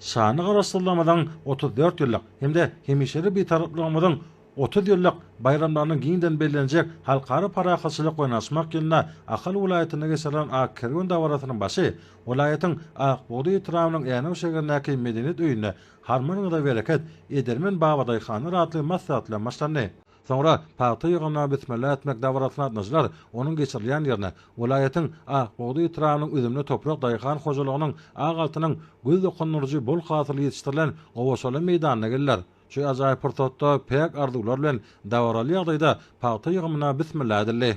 Şanly Garaşsyzlygymyzyň otuz dört ýyllyk hem-de hemişelik Bitaraplygymyzyň otuz ýyllyk baýramlarynyň giňden bellenjek Halkara parahatçylyk we ynanyşmak ýylynda Ahal welaýatynda geçirilen Ak kerwen dabarasynyň başy welaýatyň Ak bugdaý etrabynyň Änew şäherindäki Medeniýet öýünde Harman gyza bereket, edermen babadaýhanlar atly maslahat bilen başlandy. Soňra pagta ýygnamaga bismilla etmek dabarasyna gatnaşylar, onuň geçirilýän ýerine, welaýatyň Ak bugdaý etrabynyň üzümli toprak daýhan hojalygynyň ak altynyň göz dokundyryjy bol hasyly ýetişdirilen gowaçaly meýdanyna geliler. Şu ajaýyp pursatda päk arzuwlar bilen dabaraly ýagdaýda pagta ýygymyna bismilla edildi.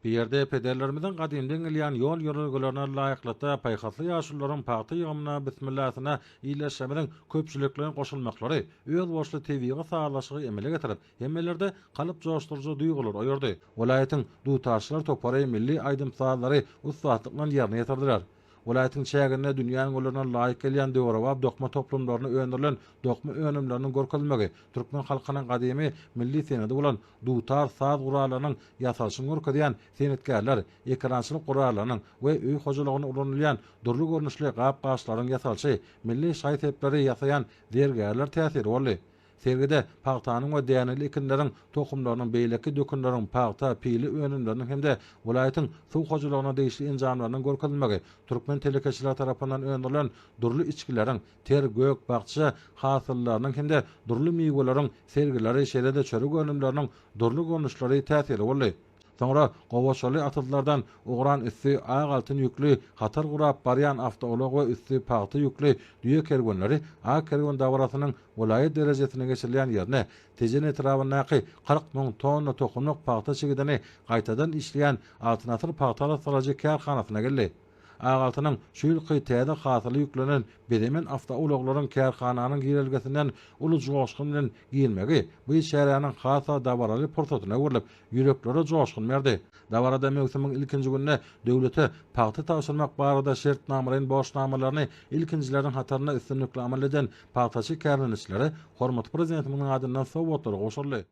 Bu ýerde pederlerimiziň gadymdan gelýän ýol-ýörelgelerine laýyklykda paýhasly ýaşulularyň pagta ýygymyna bismillasyna ildeşlerimiziň köpçülikleýin goşulmaklary özboluşly tebigy sazlaşygy emele getirip, hemmelerde kalp joşduryjy duýgular oýardy. Welaýatyň dutarçylar topary milli aýdym-sazlary ussatlyk bilen ýerine ýetirdiler. Welaýatyň çäginde dünýäniň ularyna laýyk gelýän döwrebap dokma toplumlarynda öndürilen dokma önümleriniň görkezilmegi, türkmen halkynyň gadymy milli senedi bolan dutar saz gurallarynyň ýasalyşyny görkezýän senetgärler, ekerançylyk gurallarynyň we öý hojalygynda ulanylýan dürli görnüşli gap-gaçlaryň ýasalyşy, milli şaý-sepleri ýasaýan zergärler täsiri boldy. Sergide pagtanyň we däneli ekinleriň tohumlarynyň, beýleki dökünleriň, pagta, pile önümleriniň hem-de welaýatyň suw hojalygyna degişli enjamlarynyň görkezilmegi, türkmen telekeçileri tarapyndan öndürilen dürli içgileriň, ter, gök, bakja hasyllarynyň hem-de dürli miweleriň sergileri, şeýle-de çörek önümleriniň dürli görnüşleri täsirli boldy. Soňra gowaçaly atyzlardan ugran üsti ak altyn ýükli hatar gurap barýan awtoulag we üsti pagta ýükli düýe kerwenleri ak kerwen dabarasynyň welaýat derejesinde geçirilýän ýerine, Tejen etrabyndaky kyrk müň tonna tohumlyk pagta çigidini gaýtadan işleýän Altyn asyr pagta arassalaýjy kärhanasyna geldi. Agaltynyň şu ýylky täze hasyly ýüklenen bezemen awtoulaglaryň kärhananyň girelgesinden uly joşgun bilen girmegi bu çäräniň has-da dabaraly pursatyna öwrülip, ýüreklere joşgun berdi. Dabarada möwsümiň ilkinji gününde döwlete pagta tabşyrmak barada şertnamalaýyn borçnamalaryny ilkinjileriň hatarynda üstünlikli amal eden pagtaçy kärdeneçilere hormatly Prezidentimiziň adyndan sowgatlar gowşuryldy.